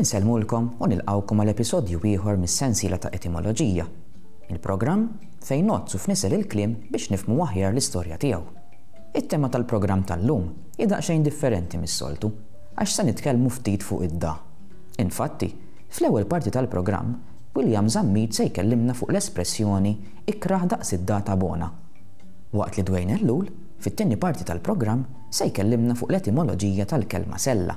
Insellmulkom u nilqgħukom għal episodju ieħor mis-sensiela ta' Etimoloġija, il-programm fejn ngħodd u fnisel il-kliem biex nifhmu aħjar l-istorja tiegħu. It-tema tal-programm tal-lum hi daqsxejn differenti mis-soltu għax se nitkellmu ftit fuq id-da. Infatti, fl-ewwel parti tal-programm, William Zammit se jkellimna fuq l-espressjoni ikrah daqs id-da ta' bona. Waqt li Dwayne Ellul, Fit-tieni parti tal-programm se jkellimna fuq l-etimoloġija tal-kelma sella.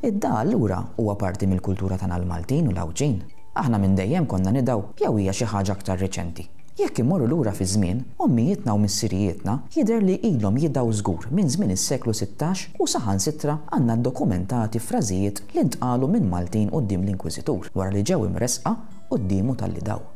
Id-dagħa allura huwa parti mill-kultura tagħna l-Maltin u l-Għawdxin? Aħna minn dejjem konna nidgħu jew hija xi ħaġa aktar riċenti? Jekk immorru lura fiż-żmien, ommijietna u missirijietna jidher li ilhom jidgħu żgur minn żmien is-seklu sittax u saħansitra għandna ddokumentati frażijiet li ntqalu minn Maltin quddiem l-Inkwiżitur wara li ġew imressqa quddiemu talli dgħu.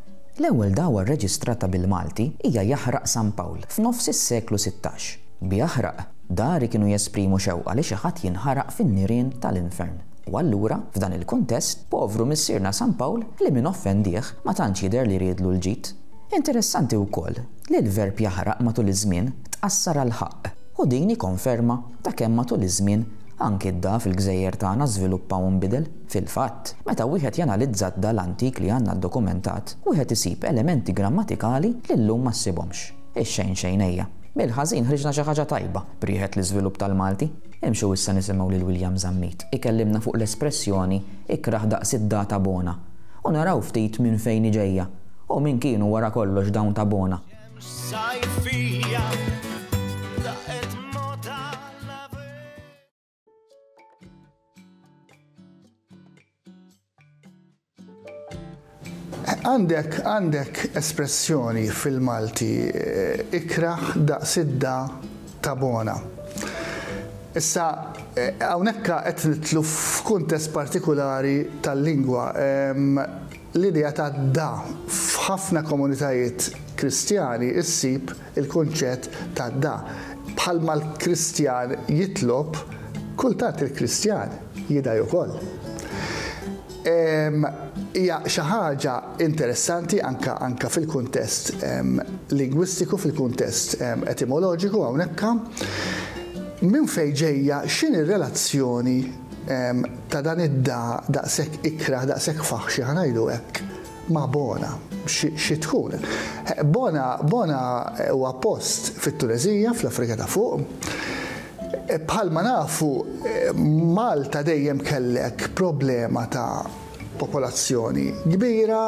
L-ewwel dgħwa rreġistrata bil-Malti hija Jaħraq San Pawl f'nofs is-seklu sittax. B'Jaħraq, dari kienu jesprimu xewqa li xi ħadd jinħaraq fin-nirien tal-infern. U allura, f'dan il-kuntest, povru Missierna San Pawl li min offendih ma tantx jidher li riedlu l-ġid. Interessanti wkoll li l-verb jaħraq matul iż-żmien tqassar għal ħaqq, u din hi konferma ta' kemm matul iż-żmien anki d-dagħa fil-gżejjer tagħna żviluppa u nbidel. Fil-fatt, meta wieħed janalizza d-dal antik li għandna ddokumentat, wieħed isib elementi grammatikali li llum ma ssibhomx. Ix-xejn xejnejja. Mill-ħażin ħriġna xi ħaġa tajba, b'riħet l-iżvilupp tal-Malti. Imxu issa nisimgħu lil William Zammit ikellimna fuq l-espressjoni ikrah daqs id-data bona u naraw ftit minn fejn hi ġejja u min kienu wara kollox dawn ta' bona. Għandek għandek espressjoni fil-Malti eh, ikraħ daqsidda ta' bona. Issa, eh, hawnhekk qed nitlu f'kuntest partikolari tal-lingwa. L-idea ta' da f'ħafna komunitajiet Kristjani ssib il-kunċett ta' da bħalma l-Kristjan jitlob, kultant il-Kristjan jidgħi ukoll. Hija xi ħaġa interessanti anke anke fil-kuntest lingwistiku, fil-kuntest etimoloġiku hawnhekk. Minn fejn ġejja? X'inhi r-relazzjoni ta' dan id-dahaq daqshekk ikrah, daqshekk faħxi, ħa ngħidu hekk, ma' Bona. Xi tkun? Bona, Bona huwa post fit-Tuneżija, fl-Afrika ta' Fuq. Bħalma nafu, Malta dejjem kellek problema ta' popolazzjoni kbira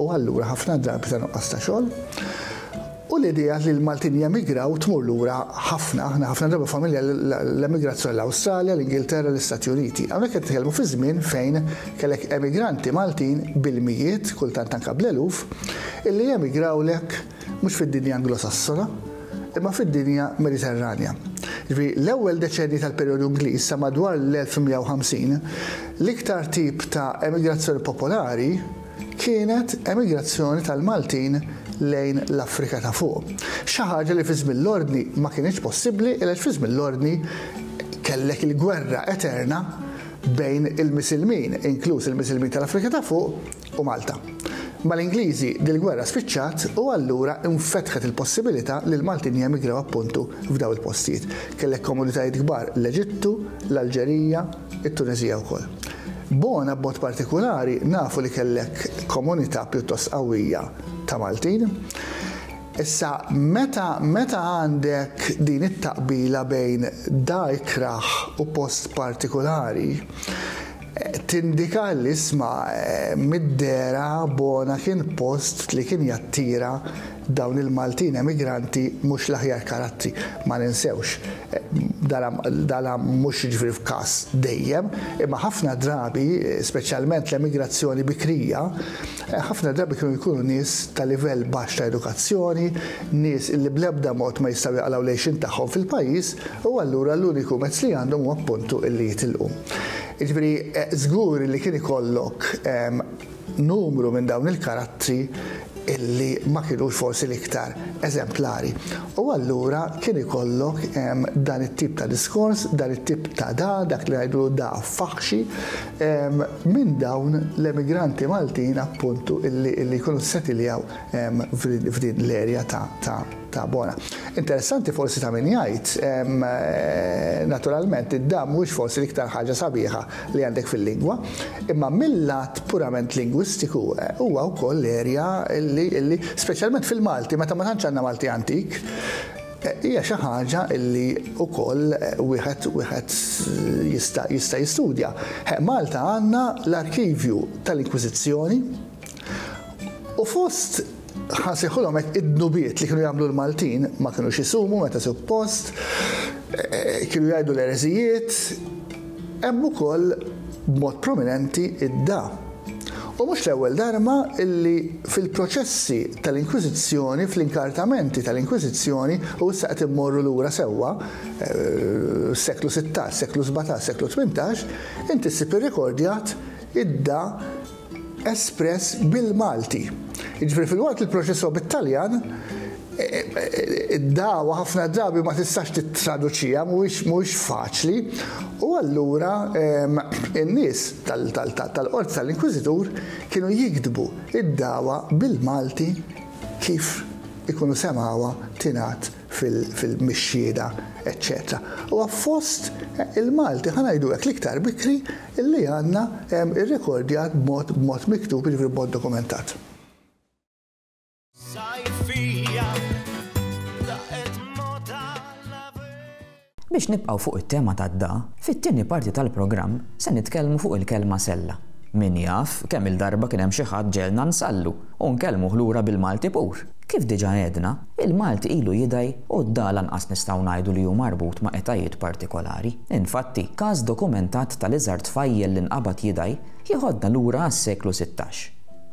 u allura ħafna drabi ta' nuqqas ta' xogħol. U l-idea li l-Maltin jemigraw tmur lura ħafna, aħna ħafna drabi familja l-emigrazzjoni l-Awstralja, l-Ingilterra, l-Istati Uniti. Hawnhekk qed nitkellmu fi żmien fejn kellek emigranti Maltin bil-mijiet, kultant anke bl-eluf, illi jemigrawlek mhux fid-dinja Anglosassona, imma fid-dinja Mediterranja. Ġifieri l-ewwel deċennji tal-perjodu Ingliż sa madwar l-1150, l-iktar tip ta' emigrazzjoni popolari, kienet emigrazzjoni tal-Maltin lejn l-Afrika ta' Fuq, xi ħaġa li fi żmien l-Ordni ma kinitx possibbli għaliex fi żmien l-Ordni kellek il-gwerra eterna bejn il-Misilmin, inkluż il-Misilmin tal-Afrika ta' Fuq, u Malta. Mal-Ingliżi dil-gwerra spiċċat u allura infetħet il-possibilità li l-Maltin jemigraw appuntu f'dawn il-postijiet. Kellek komunitajiet kbar l-Eġittu, l-Alġerija, it-Tuneżija wkoll. Bona b'mod partikulari nafu li kellek komunità pjuttost qawwija ta' Maltin. Issa meta meta għandek din it-taqbila bejn da ikrah u post partikulari tindika li isma' mid-dehra Bona kien post li kien jattira Dawn il-Maltin emigranti mhux l-aħjar karattri, ma ninsewx. Dana mhux jiġri f'każ dejjem, imma ħafna drabi, speċjalment l-emigrazzjoni bikrija, ħafna drabi kienu jkunu nies ta' livell baxx ta' edukazzjoni, nies illi bl-ebda mod ma jistgħu jaqalgħu l-għejxien tagħhom fil-pajjiż u allura l-uniku mezz li għandhom huwa appuntu illi jitilqu. Jiġifieri żgur illi kien ikollok numru minn dawn il-karattri illi ma kinux forsi l-iktar eżemplari. U allura kien ikollok ehm, dan it-tip ta' diskors, dan it-tip ta' da, dak li ngħidlu da faħxi, ehm, minn dawn l-emigranti Maltin appuntu illi jkunu setiljaw ehm, f'din l-erja ta' Ta' bona. Interessanti forsi ta' min jgħid, naturalment id-dam mhuwiex forsi l-iktar ħaġa sabiħa li għandek fil-lingwa, imma mil-lat purament lingwistiku huwa wkoll erja li, li, speċjalment fil-Malti meta ma tantx għandna Malti antik, hija xi ħaġa li wkoll wieħed, wieħed jista', jista' jistudja. He, Malta għandna l-arkivju tal-Inkwiżizzjoni u fost Ħa nsejħulhom hekk id-dnubiet li kienu jagħmlu l-Maltin, ma kinux isumu meta suppost, kienu jgħidu l-ereżijiet, hemm ukoll b'mod prominenti id-da. U mhux l-ewwel darba illi fil-proċessi tal-Inkwiżizzjoni, fl-inkartamenti tal-Inkwiżizzjoni, u issa qed immorru lura sewwa, s-seklu sittax, seklu sbatax, seklu tmintax, inti ssib irrikordjat id-da espress bil-Malti. Jiġifieri filwaqt li l-proċess huwa bit-Taljan, id-dagħwa ħafna drabi ma tistax tittraduċiha, mhuwiex faċli, u allura in-nies tal-qorti tal-inkwiżitur kienu jiktbu d-dagħwa bil-Malti kif ikunu semgħuha tingħad mix-xhieda, eċċetera. Huwa fost il-Malti, ħa ngħidu hekk, l-iktar bikri li għandna hemm irrekordjat b'mod b'mod miktub, jiġifieri b'mod dokumentat. Biex nibqgħu fuq it-tema tad-da, fit-tieni parti tal-programm se nitkellmu fuq il-kelma sella. Min jaf kemm-il darba kien hemm xi ħadd ġegħelna nsallu u nkellmuh lura bil-Malti pur! Kif diġà għedna, il-Malti ilu jidgħi u d-da lanqas nistgħu ngħidu li hu marbut ma' etajiet partikolari. Infatti, każ dokumentat tal-iżgħar tfajjel li nqabad jidgħi jeħodna lura għas-seklu sittax.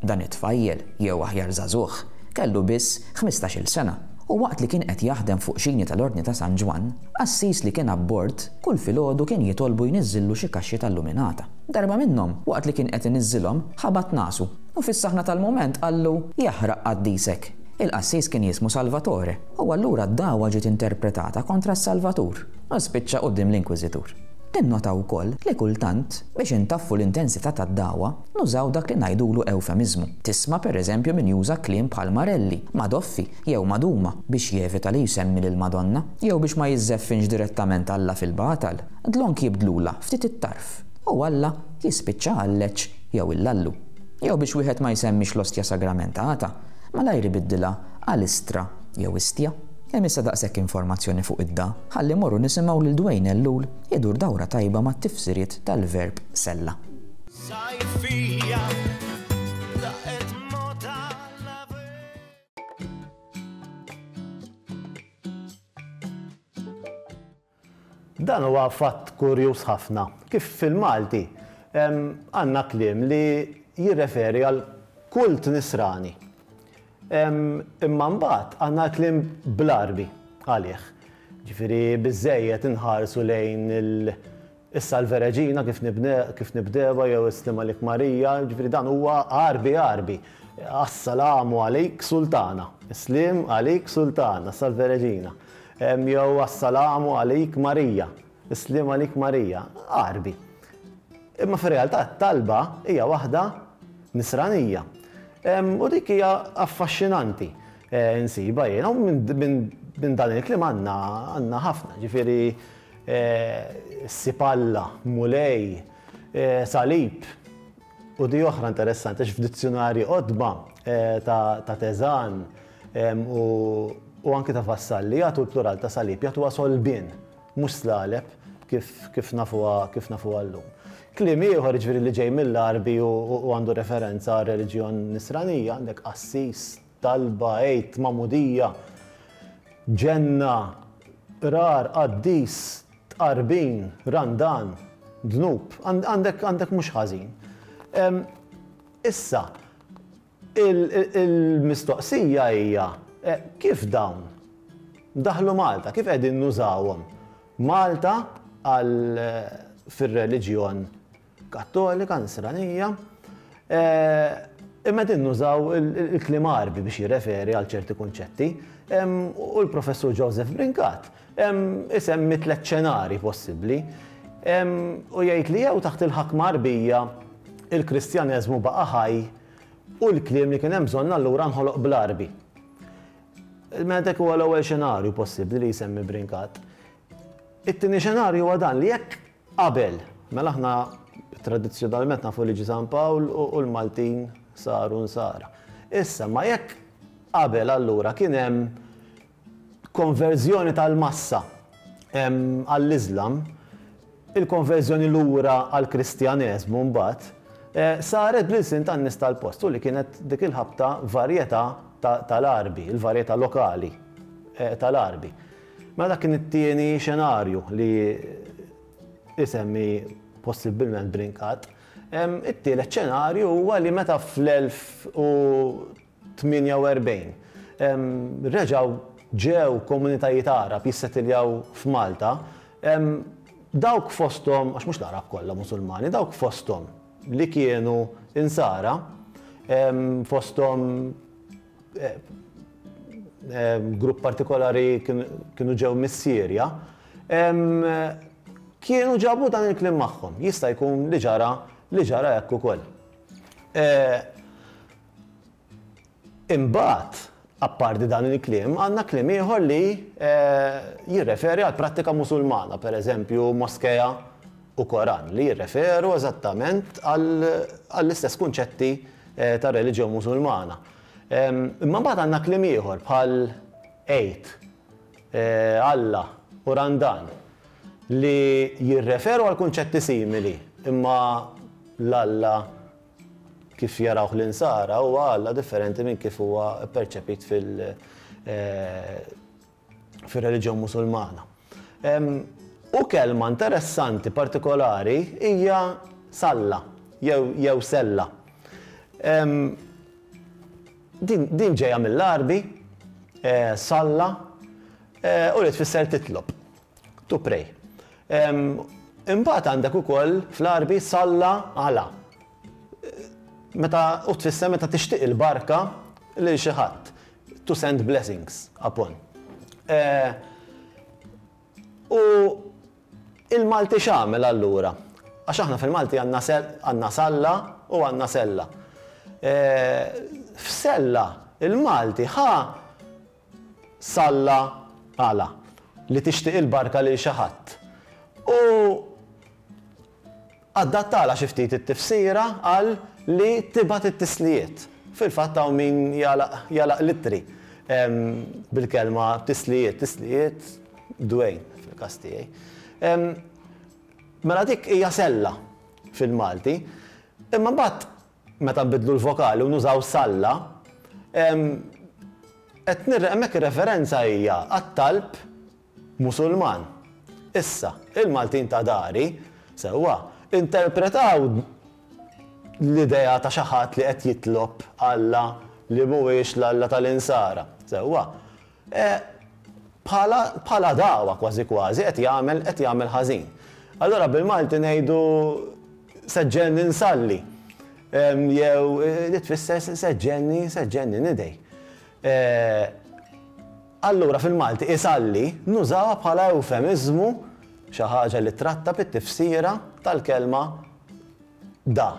Dan it-tfajjel, jew aħjar żagħżugħ, kellu biss ħmistax-il sena u waqt li kien qed jaħdem fuq xini tal-Ordni ta' San Ġwann, qassis li kien abbord kull filgħodu kien jitolbu jniżżillu xi kaxxi tal-luminata. Darba minnhom, waqt li kien qed iniżżilhom, ħabat nasu. U fis-saħna tal-mument qallu, Jaħraq qaddisek! Il-qassis kien jismu Salvatore, u allura d-dagħwa ġiet interpretata kontra s-Salvatur, u spiċċa quddiem l-inkwiżitur. Tinnota wkoll li kultant, biex intaffu l-intensità tad-dagħwa, nużaw dak li ngħidulu ewfemiżmu. Tisma' pereżempju min juża kliem bħal marelli, madoffi, jew maduma biex jevita li jsemmi lill-Madonna, jew biex ma jiżżeffinx direttament Alla fil-batal. Dlonk jibdlulha ftit it-tarf, u Alla jispiċċa għalleġġ jew il-lallu, jew biex wieħed ma jsemmix l-ostja sagramentata, malajr ibiddilha għal istra jew istja. Hemm issa daqshekk informazzjoni fuq id-da, ħalli morru nisimgħu lil Dwayne Ellul idur dawra tajba mat-tifsiriet tal-verb sella. Dan huwa fatt kurjuż ħafna, kif fil-Malti għandna kliem li jirreferi għal kult nisrani, imma mbagħad għandna l-kliem bl-Għarbi għalih. Ġifieri biżżejjed inħarsu lejn il. Issa l-Vereġina kif kif nibdewha jew Islim għalik Marija, jiġifieri dan huwa għarbi għarbi. Assalamu għalik Sultana, Islim għalik Sultana, issa l-Vereġina. Jew Assalamu għalik Marija, Islim għalik Marija, għarbi. Imma fir-realtà t-talba hija waħda Nisranija. U dik hija affaxxinanti nsibha jiena u minn dan il-kliem għandna ħafna, jiġifieri Ssib Alla, Mulej, Salib, u di oħra interessanti għax f'dizzjunarji qodma ta' Teżan u anki ta' Vassalli jagħtu l-plural ta' salib, jagħtuha solbien, mhux slaleb kif nafuha llum. Kliem ieħor, jiġifieri li ġej mill-Għarbi u għandu referenza għar-reliġjon Nisranija, għandek qassis, Talba, Għid, magħmudija, ġenna, qrar, qaddis, tqarbin, randan, dnub. Għandek għandek mhux ħażin. Issa, il-mistoqsija hija kif dawn daħlu Malta, kif qegħdin nużawhom Malta għal fir-reliġjon Kattolika, Nisranija, imma qegħdin nużaw il-kliem Għarbi biex jirreferi għal ċerti kunċetti, u l-Professur Joseph Brincat isemmi tliet xenarji possibbli, u jgħid li jew taħt il-ħakma Għarbija l-Kristjaneżmu baqa' ħaj u l-kliem li kien hemm bżonn allura nħoloq bl-Għarbi. Mela dak huwa l-ewwel xenarju possibbli li jsemmi Brincat. It-tieni xenarju huwa dan li jekk Qabel, mela aħna tradizzjonalment nafu liġi San Pawl u l-Maltin saru Nsara. Issa, ma jekk qabel allura kien hemm konverżjoni tal-massa għall-Iżlam, il-konverżjoni lura għall-Kristjaneżmu mbagħad, saret bl-ilsien tan-nies tal-post u li kienet dik il-ħabta varjetà tal-Għarbi, il-varjetà lokali tal-Għarbi. Mela dak kien it-tieni xenarju li isemmi possibbilment Brincat. It-tielet xenarju huwa li meta fl-1048 reġgħu ġew komunitajiet Għarab jissetiljaw f'Malta, dawk fosthom, għax mhux l-Għarab kollha Musulmani, dawk fosthom li kienu Insara, fosthom, grupp partikolari kienu ġew mis-Sirja, kienu ġabu dan il-kliem magħhom. Jista' jkun li ġara li ġara hekk ukoll. Imbagħad, apparti dan il-kliem, għandna kliem ieħor li jirreferi għall-prattika Musulmana, pereżempju moskea, u Koran, li jirreferu eżattament għall-istess kunċetti tar-reliġjon Musulmana. Imma mbagħad għandna kliem ieħor bħal Għid, Alla u Randan li jirreferu għal kunċetti simili, imma l-Alla kif jarawh l-Insara huwa Alla differenti minn kif huwa pperċepit fil- fir-reliġjon Musulmana. U kelma interessanti partikolari hija salla jew jew sella. Din din ġejja mill-Għarbi, salla, u li tfisser titlob, to pray. Imbagħad għandek ukoll fl-Għarbi salla għala. Meta, u tfisser meta tixtieq il-barka lil xi ħadd, to send blessings upon. U il-Malti x'għamel allura? Għax aħna fil-Malti għandna salla u għandna sella. F'sella il-Malti ħa salla għala li tixtieq il-barka lil xi ħadd. U Adattalha xi ftit it-tifsira għal li tibgħat it-tislijiet. Fil-fatt hawn min jagħlaq jagħlaq l-ittri bil-kelma tislijiet, tislijiet dwejn fil-każ tiegħi. Mela dik hija sella fil-Malti. Imma mbagħad meta nbiddlu l-vokali u nużaw salla, qed nirre hemmhekk ir-referenza hija għat-talb Musulman. Issa, il-Maltin ta' dari, sewwa, interpretaw l-idea ta' xi ħadd li qed jitlob Alla li mhuwiex l-Alla tal-Insara, sewwa, bħala bħala dagħwa kważi kważi qed jagħmel qed jagħmel ħażin. Allura bil-Malti ngħidu seġġenni nsalli jew li tfisser seġġenni seġġenni nidgħi. Allura fil-Malti isalli nużawha bħala ewfemiżmu, xi ħaġa li trattab it-tifsira tal-kelma da.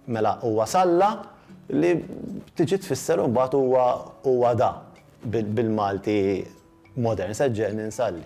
Mela huwa salla li tiġi tfisser imbagħad huwa huwa da bil-Malti modern, se ġġegħelni nsalli.